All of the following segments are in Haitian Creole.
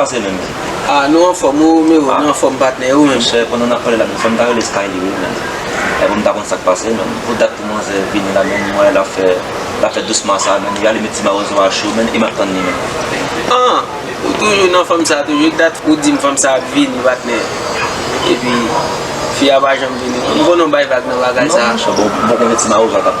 Kòman se menm zi? Ah nou anfòm ou menm ou nou anfòm patnè e ou menm? Monchè pandan nap pale la menm fòm ta rele Skylie wi menm e poum ta konn sak pase menm pou dat pou manzè vini la menm mwen wè lap fè lap fè dousman sa menm li ale met ti mawozo a cho menm e map tann li menm. Ah ou toujou nan fanm sa toujou ki dat ou dim fanm sa ap vini patnè epi fi a pa janm vini m konnen ou bay vag nan bagay sa. Non monchè bon ou poko wè ti mawozo a kap.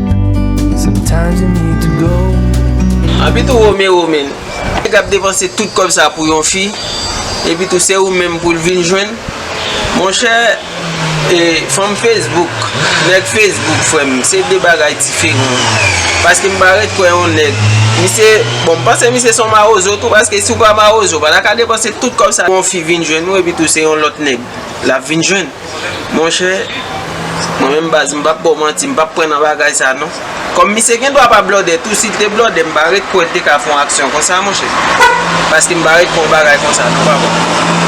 Anpi tou Romero menn, nèg ap depanse tout kòb sa pou yon fi, epi tou se ou menm pou l vin jwenn? Monchè, fanm Facebook, nèg Facebook frè m, se de bagay diferan. Paske m pa ret kwè yon nèg, misye, bon m panse misye se yon mawozo tou paske si w pa mawozo, w pa ta ka depanse tout kòb sa pou yon fi vin jwenn ou epi tou se yon lòt nèg l ap vin jwenn. Monchè, mwen menm baz m pap ba w manti, m pap pran nan bagay sa non. Kòm misye gen dwa pa blòdè tou, si l te blòdè m pa ret kwè l te ka fè yon aksyon konsa monchè. Paske m pa ret kwè yon bagay konsa non papa.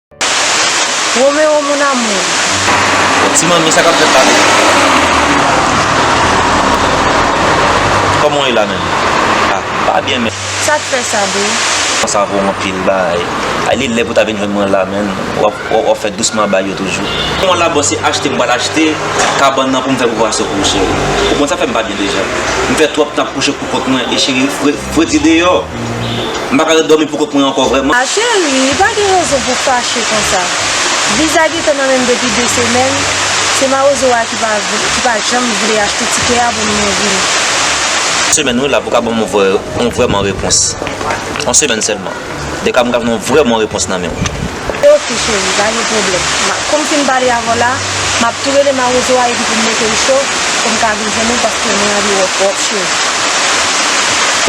Romero mon amour. Ti manmi sa kap fèt la menm. Koman ou ye la menm. Ah m pa byen menm. Sak fè sa boo. Sa vo anpil baay. Ay li lè pou ta vin jwenn mwen la menn. Wap fè dousman bay yo toujou. Bon la boo se achte m pral achte kabann nan pou m fè pou pwason pou ou cheri. Ou konn sa fè m pa byen deja. M fè twòp tan ap kouche pou kont mwen e cheri fredi deyò. M pa ka ret dòmi pou kont mwen ankò vrèman. A Cheri, pa gen rezon pou w fache konsa. Viza gentan nan men m depi de semèn, se mawozo a ki pa ki pa janm vle achte tikè a pou m nou vini. Semèn wi la pou w ka ban m yon vrè yon vrèman repons. Yon semèn sèlman. Dèka m ka vin yon vrèman repons nan men w. Ok cheri pa gen pwoblèm Kou m fin pale avè w la M ap tou rele mawozo a epi pou m mete l cho Pou m ka vin jwenn ou paske mwen anvi wè w twòp cheri.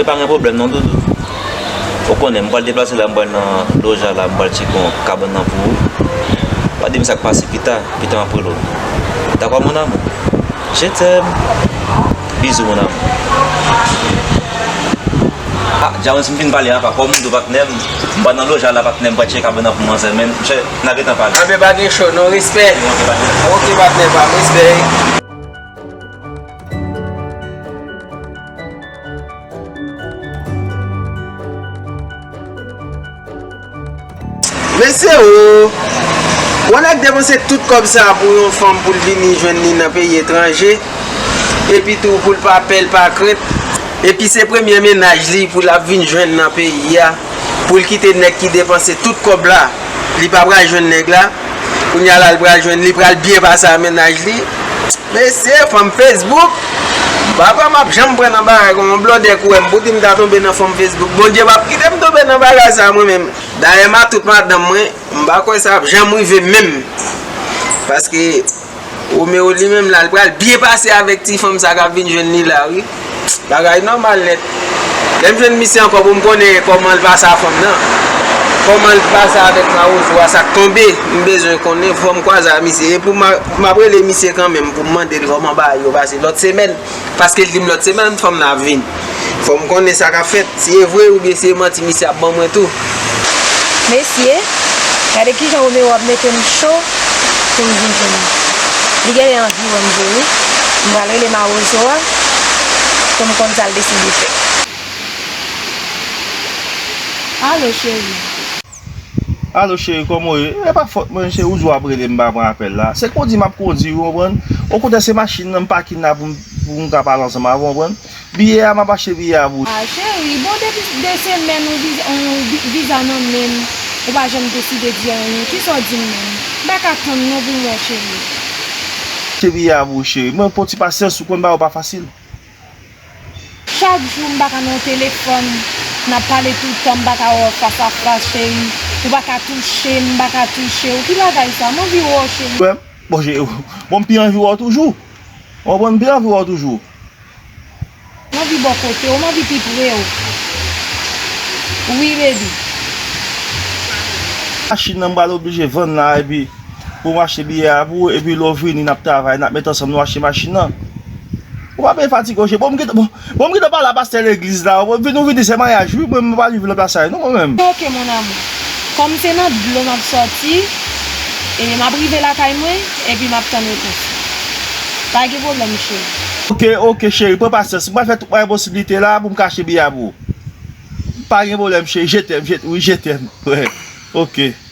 E pa gen pwoblèm non doudou Ou konnen m pral deplase la m pral nan Loja la m pral tcheke yon kabann nan pou ou Pa di m sa k pase pita Pita m ap rele w Dakò mon amour Je t'aime Bisous mon amour. Ah James m fin pale apa kòm m do patnè m m pa nan lojal la patnè m pa tcheke kabann an pou manzè men chè na gentan pale. Anben pa gen cho non respè ok patnè pam respè. Mesye ooh! Yon nèg depanse tout kòb sa pou yon fanm poul vini jwenn li nan peyi etranje, epi tou poul pa pè l pa krent, epi se premye mennaj li pou lap vin jwenn nan peyi a, poul kite nèg ki depanse tout kòb la li pa pral jwenn nèg la. Kounye a la li pral jwenn li pral byen pase a mennaj li. Mesye fanm Facebook Pa pa map janm pran nan bagay kon yon blòdè kouwèm pou dim ta tonbe nan fanm Facebook Bondye pap kitem tonbe nan bagay sa mwen menm Dayè matout madanm mwen m pa kwè sa ap janm rive menm paske Romero li menm la li pral byen pase avèk ti fanm sa kap vin jwenn li la wi. Bagay nòmal nèt. Lèm jwenn misye ankò poum konnen kòmanl pase a fanm nan. Kòmanl t pase avèk mawozo a sak tonbe m bezwen konnen fòm kwaze a misye e pou map rele misye kanmenm poum mandel kòman bagay yo pase lòt semèn. Paske l di m lòt semèn fanm nan ap vini. Fò m konnen sa k ap fèt. Si e vre oubyen si e manti misye ap ban mwen tou. Mesye, gade kijan Roméo ap mete m cho pou m vin jwenn li. Li genlè anvi wè m vre wi. M pral rele mawozo a pou m konn sa l deside fè. Alo cheri. Alo cheri kòman w ye? E pa fòt mwen cheri ou di w ap rele m pa pran apèl la. Se kondi m ap kondi ou konprann. Okontrè se machin nan m pakin la pou m ka pale ansanm avè w konprann. Biyè a m ap achte biyè a pou ou. Ah cheri bon depi 2 semèn ou viza nan men m ou pa janm deside di anyen. Kisa w di m menm? M pa ka tann non pou m wè cheri. Achte biyè a pou ou cheri. Mwen pran w ti pasyans ou konn bagay yo pa fasil. Chak jou m paka nan telefòn Nap pale tout tan m paka wè w fas a fas cheri Ou paka touche m m paka touche w Ki bagay sa m anvi wè w cheri Wè m bon cheri Bon m pi anvi wè w toujou Ou konprann m pi anvi wè w toujou. M anvi bò kote w m anvi pi pre w Wi baby. Machin nan m pral oblije vann la epi. Pou m achte biyè a pou ou epi lè w vini n ap travay, n ap met ansanm nou achte machin nan. Ou pa bezwen fatige w cheri. Bon m gen bon m gen tan pale a pastè legliz la. Ou vin ou vini se maryaj wi mwen m pa viv lòt asay non mwen menm. Se ok mon amour. Kòm se nan dlo m ap sòti e m ap rive lakay mwen epi m ap tann repons ou. Pa gen pwoblèm cheri. Ok ok cheri pran pasyans. M pral fè tout mwayen posib li te la pou m ka achte biyè a pou ou. Pa gen pwoblèm cheri je tèm je wi je tèm. Ok.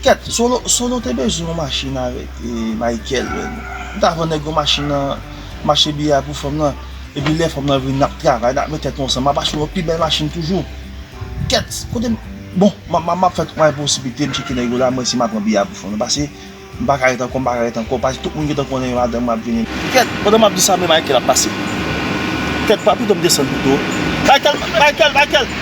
Kèt solo solo te bezwen yon machin avèk Michael menm m ta vann nèg yon machin nan mache biyè a pou fanm nan epi lè fanm nan vini nap travay nap met tèt nou ansanm map achte yon pi bèl machin toujou kèt kote m bon map fè tout mwayen posib m tcheke nèg yo la m wè si ma pran biyè a pou fanm nan pase m paka ret ankò m paka ret ankò pase tout moun gentan konnen yo madanm mwen ap vini. Kèt pandan map di sa men Michael ap pase kèt pa pito m desann pito Michael Michael Michael.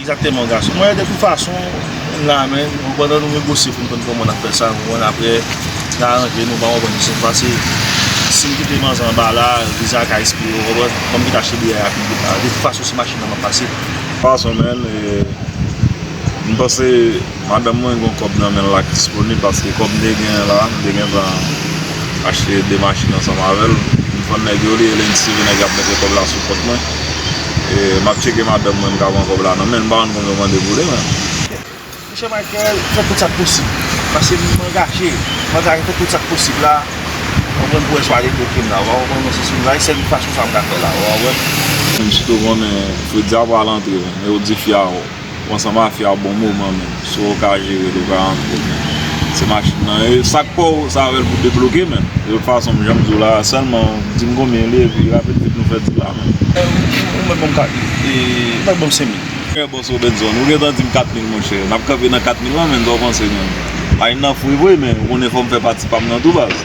Exactement gason mwen de tout fason nou la men nou pandan nou negosye pou nou konn kòman nap fè sa nou konn aprè nou aranje nou pa konprann se pase sim kite manzè anba la viza ka espire ou konprann fòm ki ta achte biyè a pi vit la de tout fason se machin nan map pase. Gason men e m panse. Madanm mwen gen yon kòb nan men l ak disponib paske kòb m te genyen la m te gentan achte 2 machin ansanm avè l m vann nèg yo olye lendi seve nèg ap mete kòb la sou kont mwen e m ap tcheke madanm mwen m ka pran kòb la nan men l m pa rann kont yo mande pou li men. Mouche Michael fè tout sa k posib paske m angaje m angaje fè tout sa k posib la ou konprann pou Eswa debloke m la ou a konprann mwen se sou la sèl fason sa m ka fè la ou a wè m. Msye tou konnen Fritz a pral antre men ou di fi a ou. Bon sa mafya bon moman menm si ou ka jerel ou ka antre men se machin nan e sak paw se avèl pou debloke menm de tout fason janm diw la sèlman dim konbyen li epi rapid vit nou fè dil la menm. Ou mèt banm 4 mil e ou mèt banm 5 mil. Frè bòs Robenson ou gentan dim 4 mil monchè nap kanpe nan 4 mil lan menn sa ou panse menm? Machin nan fre vre men ou konnen fòm fè pati pam nan tou baz.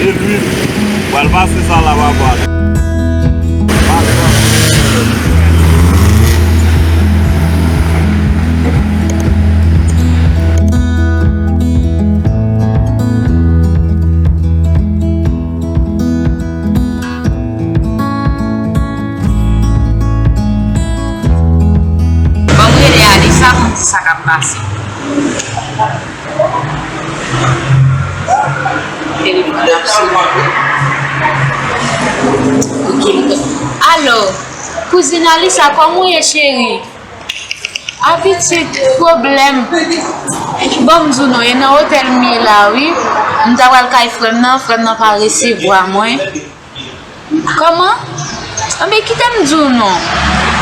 E luil pral pase sa la papa. Banm rele Alisa poum di sa kap pase. Alo kouzin Alisa kòm ou ye cheri a pitit pwoblèm banm di w non e nan otèl m ye la wi m ta pral kay frè m nan frè m nan pa resevwa mwen. Kòman? Anben kite m di w non.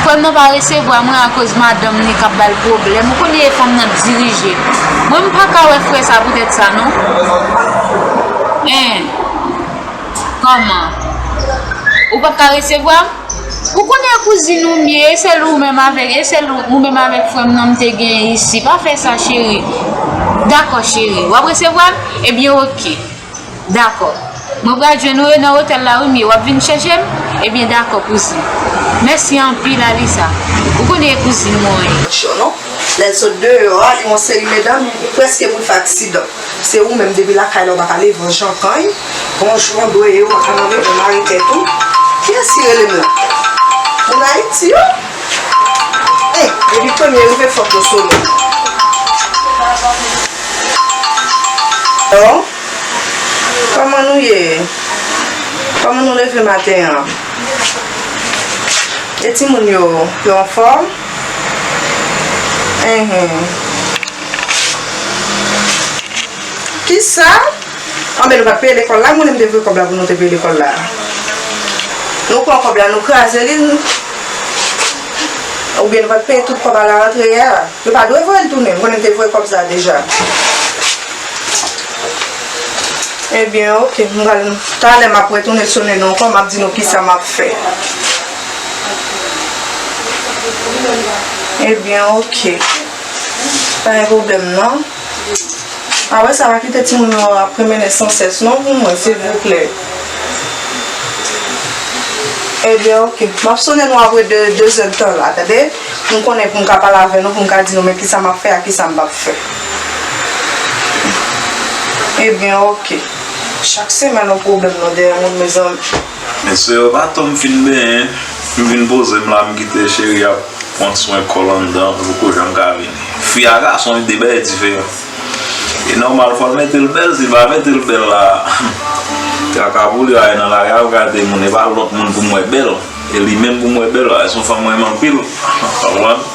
Frè m nan pa resevwa mwen akoz madanm li k ap ba l pwoblèm. Ou konnen e fanm nan k dirije. Mwen m pa ka wè frè sa poutèt sa non. Hein? Kòman? Ou pa p ka resevwa m? Ou konnen kouzin ou m ye, e sèl ou menm avèk, e sèl ou menm avèk frè m nan m te genyen isi. Pa fè sa cheri. Dakò cheri. W ap resevwa m? Ebyen ok. Dakò. Mwen pral jwenn ou e nan otèl la wi m ye, wap vin chèche m? Ebyen dakò kouzin. Mèsi anpil Alisa. Ou konnen e kouzin mwen ye. Cho non. Lè l sot deyò a, yon seri medanm prèske mouri fè aksidan. Se ou menm depi lakay la ou pa ka leve yon jan pany. Bon jou an dwe ye ou pa ka nan reponn arete tou. Kiyès ki rele m la? Moun Ayiti yo? Depi premye rive fok yo sone. Hello Koman nou ye Koman nou leve maten an E timoun yo Yo anfòm Enhen Kisa Anben nou pat peye lekòl la mwen menm te voye kòb la pou nou te peye lekòl la nou pran kòb la nou kraze li n oubyen nou pat peye tout kòb a la rantre a yo pa dwe voye l tounen mwen menm te voye kòb sa deja ebyen ok m pral talè map retounen sone nou ankò map di nou kisa map fè ebyen ok pa gen pwoblèm nan. Ah wè sa pa kite timoun yo ap pwemenen san sès non pou mwen silvouplè Ebyen ok map sone nou apre 2 zè de tan la tande poum konnen poum ka pale avè nou poum ka di nou men kisa map fè ak kisa m pap fè Ebyen ok chak semèn on pwoblèm non dèyè moun mezanmi. Mesye yo pa tanm fin benyen m vin pozem la m kite cheri ap pwan swen kòl anndan pou kouche m ka vini fi a gason li 2 bagay diferan e nòmal fòl metel bèl sil pa metel bèl la traka pou li ale nan lari al gade moun e pa lòt moun poum wè bèl e li menm poum wè bèl a son fanm renmen anpil.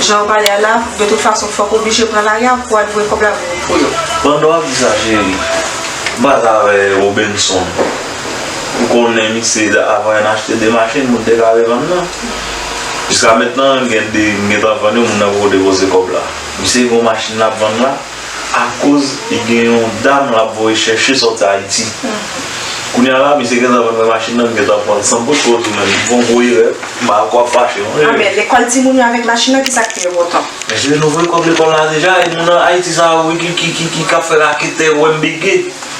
Jan ou pale a la, de tout fason fòk ou oblije pran lari a pou al voye kòb la pou yo. Pandan wap di sa cheri, m pase avè Robenson. M konnen misye avan yon achte 2 machin pou l te ka revann nan. Jiska mentnan gen 2 m gentan vann yo moun nan poko depoze kòb la. Misye gen yon machin lap vann la. akoz li gen yon dam lap voye chèche sòti ayiti kounya la misye gentan vin pran machin nan m gentan pranl san pote pou retounen li fon gwo erè m pa wè wap fache non Aa men lekòl timoun yo avèk machin nan kisak fè yo kontan? Mesye nou voye kòb lekòl la deja e moun ayiti sa yo wi ki kap fè raketè wè m bege.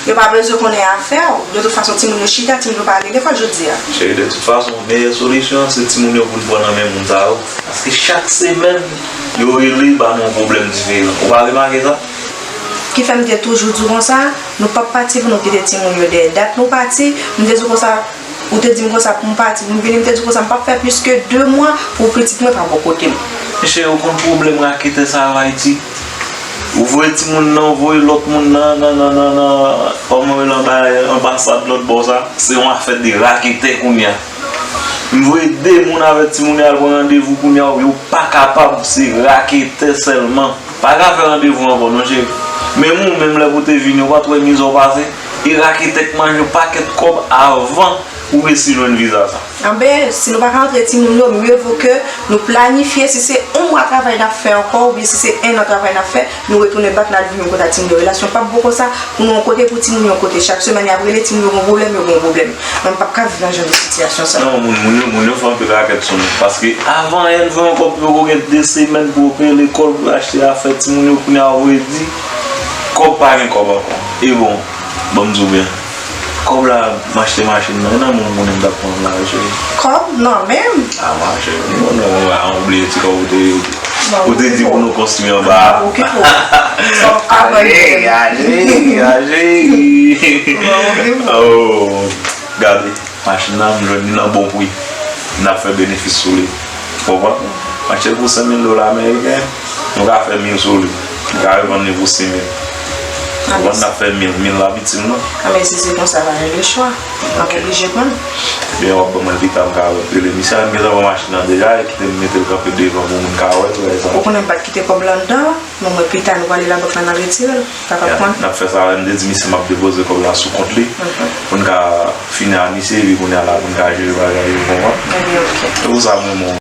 Yo pa bezwen konnen afè w. De tout fason timoun yo chita, timoun yo pa ale lekòl jodi a. Cheri, de tout fason, meyè solisyon an se timoun yo pou n pran nan men moun sa yo. Paske chak semèn, yo rele ba nou yon pwoblèm diferan. Ou pa remake sa? Ki fè m te toujou di w konsa, nou p ap pati pou nou kite timoun yo dèyè. Dat nou pati, m te di w konsa, ou te di m konsa pou m pati, pou m vini, m te di w konsa m p ap fè plis ke de mwa pou pitit mwen pa bò kote m. Men cheri, ou konn pwoblèm raketè sa yo Ayiti? Ou voye timoun nan, ou voye lòt moun nan, nan nan nan nan, kòman rele anba anbasad lòt bò sa, se yon afè de raketè kounye a. M voye 2 moun avèk timoun yo al pran randevou kounye a, yo pa kapab, se raketè sèlman. Pa ka fè randevou ankò non cheri. Menm ou menm lè pou te vini, ou pa t wè mize w pase? E raketè k manje w pakèt kòb avan ou resi jwenn viza sa. Anben, si nou pa ka antre timoun yo, mye vo ke nou planifye, si se on mwa travay n ap fè ankò oubyen si se ennan travay n ap fè, nou retounen bak n al viv yon kote ak timoun yo. Relasyon pap bon konsa, pou nou yon kote, pou timoun yo yon kote. Chak semèn y ap rele, timoun yo gen yon pwoblèm, yo gen yon pwoblèm. Mwen m pap ka viv nan jan de sitiyasyon sa. Non, moun yo, moun yo fè anpil rakèt sou nou. Paske avan Èl vwe yon kòb pou yo vo gen 2 semèn pou yo peye lekòl, pou yo achte afè timoun yo, kounye a ou redi kòb pa gen kòb ankò. E bon! Banm diw byen. Kob la m achte machin nan. Gen nan moun konnen m tap pranl la wi cheri. Kob nan menm? Ah ma cheri m konnen ou a ou bliye ti kob ou te ou te di pou nou konstwi anba a. Banm okipe w. Banm okipe w. Anmweyy anmweyy anmweyy. Banm okipe w. Oh gade machin nan m jwenn li nan bon pri. Nap fè benefis sou li. Ou konprann? M achte l pou 5000 dola ameriken. Nou ka fè mil sou li. Mwen ka revann li pou 6 mil. Ou vann la fè mil, mil la pitim non. A men si se konsa pa gen de chwa. Map oblije pran l. Ebyen wap ban mwen pita m ka wèl. Rele misye al m gentan pran machin nan deja e kite m mete l kanpe devan pou moun ka wèl tou lè sa. Ou konnen m pat kite kòb lan anndan an. Bon mwen pita nou prale labank la nan retire l. Sa pap pran. Nap fè sa wè. M te di misye map depoze kòb la sou kont li pou n ka fini a misye epi kounya la pou n ka jere bagay yo ou konprann. Ebyen ok. Se pou sa m renmen w.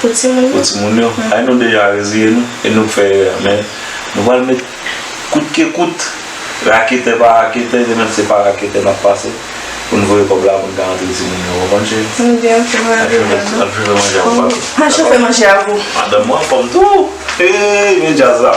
Pou timoun yo. Pou timoun yo. Ay nou deja reziye nou e nou fè erè men nou pral met kout ke kout raketè pa raketè se menm se pa raketè nap pase pou nou voye kòb la pou nou ka rantre timoun yo ou konprann cheri? Wi byen ok mwen rantre byen nan. Al chofe manje a pou papi. Mwen chofe manje a pou. Madanm ou anfòm tou! Eeyy men djaz la.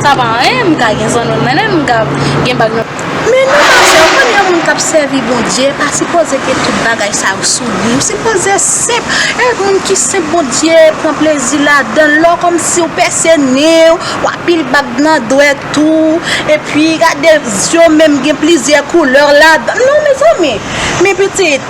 Sa pa anyen, m ka gen zanno n mennen n, m ka gen bag nan. Men nou pa vle, ou konn yon moun k ap sèvi Bondye pa sipoze ke tout bagay sa yo sou li, nou sipoze senp, e moun ki senp Bondye pran plezi ladan l, lè w kòmnse w pèse nen w, w ap pile bag nan dwèt ou, epi gade zye w menm gen plizyè koulè ladan l, non mezanmi, men pitit.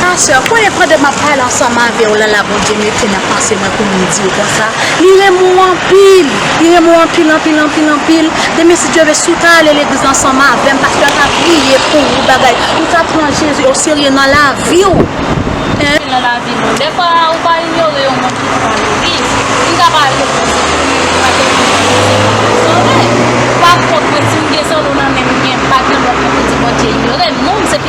Ma soeur, konnen pandan map pale ansanm avew la la Bondye mete nan panse mwen pou m diw konsa, li renmen w anpil, li renmen w anpil anpil anpil anpil, demen si Dye ve si w ta ale legliz ansanm avem pastè a ka priye pou ou bagay, ou ta pran Jezi o serye nan laviw. Jezi nan lavi nou. Dèfwa ou pa inyore yon moun ki pran legliz, li ka pa ale pou Jezi men li ka gen yon lòt kote pou l sove. Pakont mwen si m gen zolo nan menm m gen bag nan menm m poko di Bondye inyore m non.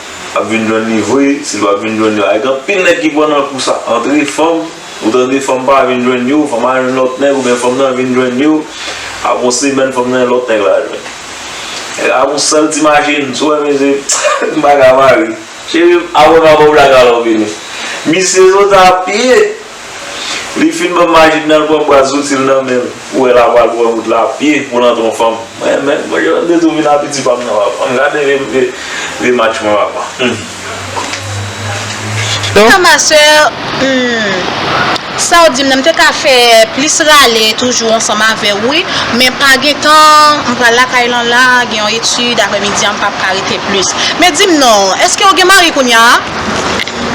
Wap vin jwenn li vre sil pap vin jwenn yo a e gen anpil nèg ki pran nan kou sa antre fanm ou tande fanm pa vin jwenn yo fanm al jwenn lòt nèg oubyen fanm nan vin jwenn yo aprè yon semèn fanm nan gen lòt nèg lal jwenn nèg la ak yon sèl ti machin sou wè mesye m paka pa ri cherim aprè m ap baw black alò vini misye soti a pye. Li fin banm Majid nan l pran bwa zouti l nan menl ou wè la pral pran wout la a pye pou l antre yon fanm mwen menm mwen gentan detou vin a piti pam nan papa m gade vye match mwen papa humm. Nan ma soeur humm Saw dim nan m te ka fè plis rale toujou ansanm avèw wi men pa gen tan m pral lakay lan la gen yon etude aprè midi an m pap ka rete plis men dim non eskew gen mari kounya a?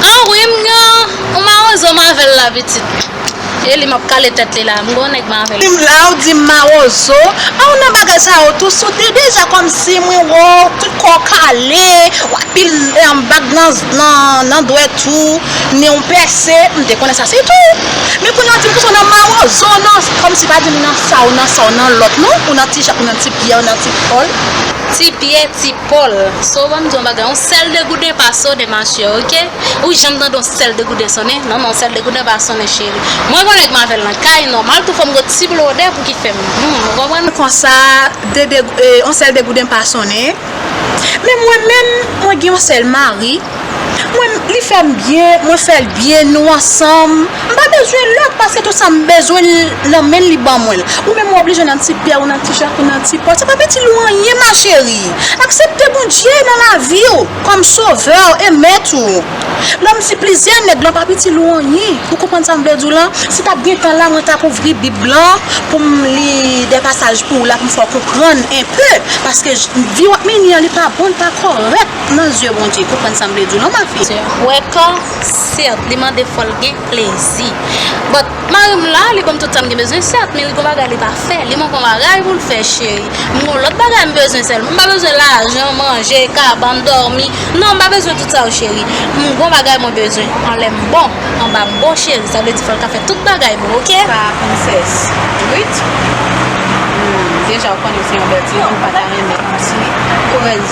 An wi m gen Ou mawozo m avèl la pitit. Eli map kale tèt li la mgo nèg mwen avèl. Dim la ou dim mawozo. A ou nan bagay sa yo tou sote deja kòmsi mwen wè w tout kò w kale w apil bag nan dwèt ou nen w pèse m te konnen sa se tou men kounye a w dim kòmsi w nan mawozo w nan kòmsi pa dim nan sa w nan sa w nan lòt non ou nan ti jak ou nan ti pyè ou nan ti pòl ti pyè ti. Paul, So banm di yon bagay, yon sèl degouden pa sonnen ma chère ok, ou janm tande yon sèl degouden sonnen? Non non sèl degouden pa sonnen cheri, mwen konnen k m avè l nan kay, nòmal tou fò m gen yon ti blodè pou ki fè m humm ou konprann? Konsa yon sèl degouden pa sonnen? Men mwen menm, mwen gen yon sèl mari. Mwen li fèm byen, mwen fèl byen, nou ansanm, m pa bezwen lòt paske tout sa m bezwen nan menl li ban mwenl, ou menm ou oblije nan ti pyè ou nan ti jak ou nan ti pòl, se pap itil ou anyen ma chérie, aksepte Bondye nan laviw kòm sovèw e mèt ou, lè m di plizyè nèg lan pap itil ou anyen, ou konprann sa m vle diw lan, si tap gen tan la mwen tap ouvri bib lan poum li dè pasaj pouw la poum fèw konprann enpe paske vi wap mennen an li pa bon li pa kòrèk. Nan zye Bondye, konprann sa m vle di w non ma fille. Wèkò, Sèt, li mande fò l gen plezi. But, mari m la, li ban m tout sa m gen bezwen sèt, men li gon bagay li pa fè. Li manke w bagay pou l fè cheri. M gon lòt bagay m bezwen sèlman. M pa bezwen lajan, manje, kabann, dòmi. Non, m pa bezwen tout sa yo cheri. M gon bagay mwen bezwen. An lè m bon. Anba m bon cheri. Sa vle di fò l ka fè tout bagay pou ou ok. Sa a princess. Wit? Deja ou konnen se yon bèl timoun m pa ta renmen yon ti korèz.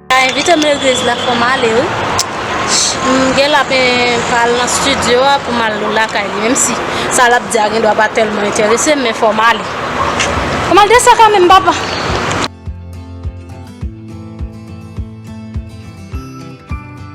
Sa invite m legliz la fòm ale wi. M gen la pen pral nan studio a pou mal lakay li menm si sa lap di a gen dwa pa tèlman enterese m men fòm ale. Fòm al desan kan menm papa.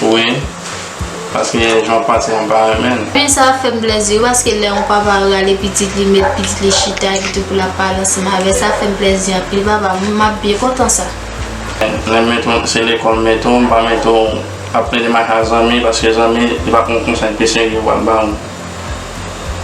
Wi paske jan w panse a m pa renmen l. Fen sa fem plezi wi paske lè yon papa rale pitit li met pitit li chita epi tou pou lap pale ansanm avèl sa fem plezi anpil papa map byen kontan sa. Lèm mete w se lekòl m mete w m pa mete w ap plede mache ak zanmi paske zanmi li pa konn konsèy pi serye pral ba w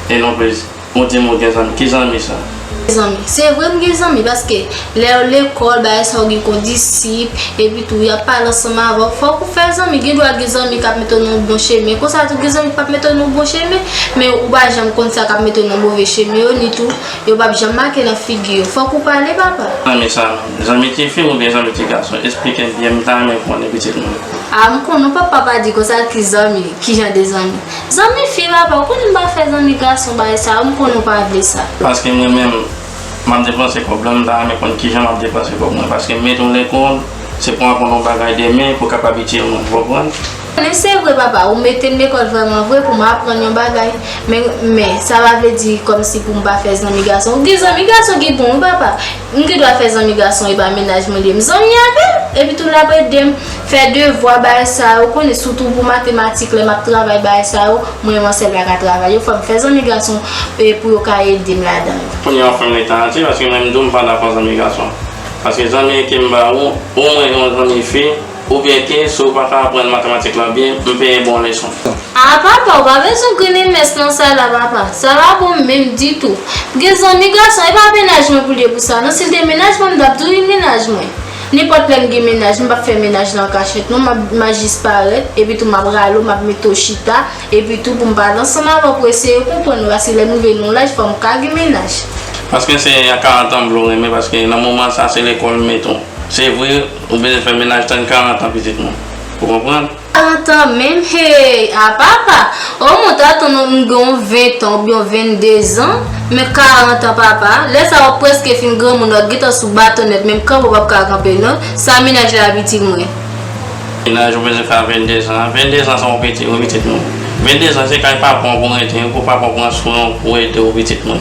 e non plis. Ou dim ou gen zanmi, ki zanmi sa? Zanmi. Se vre m gen zanmi paske lèw lekòl bagay sa ou gen kondisip epi tou yap pale ansanm avèw fòk ou fè zanmi gen dwa gen zanmi kap mete w nan yon bon chemen konsa tou gen zanmi ki pap mete w nan yon bon chemen men ou pa janm konn sa kap mete w nan move chemen yo ni tou yo pap janm make nan figi yo fòk ou pale papa. Zanmi sa menm. Zanmi ti fi oubyen zanmi ti gason? Esplikem byen m ta renmen konnen pitit mwen. Ah m konnen w papa pa di konsa ki zanmi, kijan de zanmi? Zanmi fi la pa konn m pa fè zanmi gason bagay sa yo m konnen w pa vle sa. Paskem renmen l map depanse kòb lan m ta renmen konn kijan map depanse kòb mwen paske m met on lè kon se pou aprann on bagay demen pou kap abitye mwen ou konprann. Men se vre papa ou metem lekòl vrèman vre pou m aprann yon bagay men men sa pa vle di kòmsi pou m pa fè zanmi gason ou gen zanmi gason ki bon wi papa. M gen dwa fè zanmi gason epa mennaj mwen liye m zanmi avèl epi tou lap edem fè devwa bagay sa yo konnen sitou pou matematik lè map travay bagay sa yo mwen menm an sèl paka travay yo fòm fè zanmi gason pou yo ka edem ladan yo. Kounya ou fèm ri Taraty paske mwen menm tou m pa dakò zanmi gason paske zanmi kem ba ou ou mwen yon zanmi fi Ou byen ke si w pa ka aprann matematik lan byen, m penyen ba w leson. Aa papa ou pa bezwen grennen mès nan sa la papa, sa pa bon menm ditou. M gen zanmi gason e pa mennaj mwen pou l ye pou sa non, si l te mennaj mwen m tap di w li mennaj mwen. Nenpòt lè m gen mennaj m pap fè mennaj la an kachèt non, m a jis parèt, epi tou m ap rale w m ap mete w chita, epi tou pou m pale ansanm avè w pou eseye konprann ou paske lè m rive nan yon laj fò m ka gen mennaj. Paske se a 40 an m vle w renmen paske nan moman sa se lekòl m mete w. Se vre Ou bezwen fè menaj tann 40 an pitit mwen pou konprann. 40 ans menm heyy a papa oh mwen ta atann ou m gen yon 20 tan oubyen 22 zan men 40 ans papa lè sa wap preske fin granmoun wap gentan sou baton nèt menm kanpe ou pap ka kanpe non sa menaj la pitit mwen. Menaj ou bezwen fè a 22 zan an 22 zan sa ou piti wi pitit mwen 22 zan se kay papa w pou rete wi pou papa w pran swen w pou ede w pitit mwen.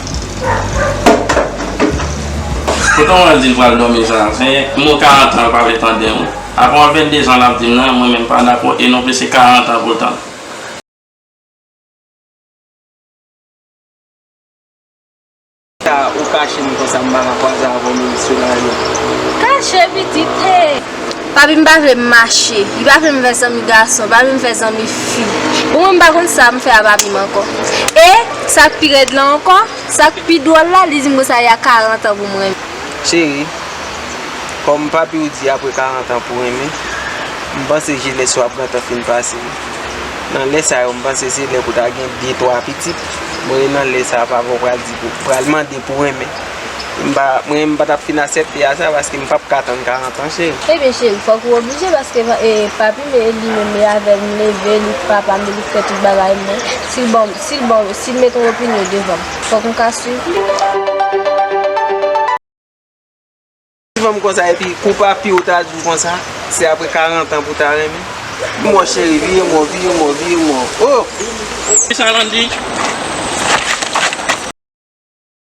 Poutan wè l di l pral dòmi zafen, m gen 40 an l pa vle tande m. Avan 22 zan l ap di m nan, mwen menm m pa dakò e non plis se 40 an pou l tann. Sa ou kache m konsa m pa ka kwaze avè w m e misye la ri. Kache pitit e. Papi m pa vle m mache. Li pa vle m fè zanmi gason. Li pa vle m fè zanmi fi. Bon mwen m pa konn sa m fè a papi m ankò. E, sa k pi rèd lan ankò, sa k pi dwòl la, li di m konsa y a karantan pou m renmen. Cheri, kòm papi w di apre karantan pou renmen, m panse jenès ou ap gentan fin pase. Nan lè sa yo m panse se lè pou w ta gen de twa pitit. Mwen nan lè sa a papa w pral di pou, pral mande pou renmen. Mwen m patap fin asepte a sa paske m pap ka tann 40 ans cheri. Ebyen cheri fok ou oblije paske papi m li menm li avem m leve li k papa m li k fè tout bagay mwen sil banm sil banm sil met yon opinyon devanm fok m ka swiv li. Suivanm konsa epi pou papiw ou ta diw konsa se apre 40 ans pou ta renmen m bon cheri vire m w vire m w vire m w oh. Kisa Landy?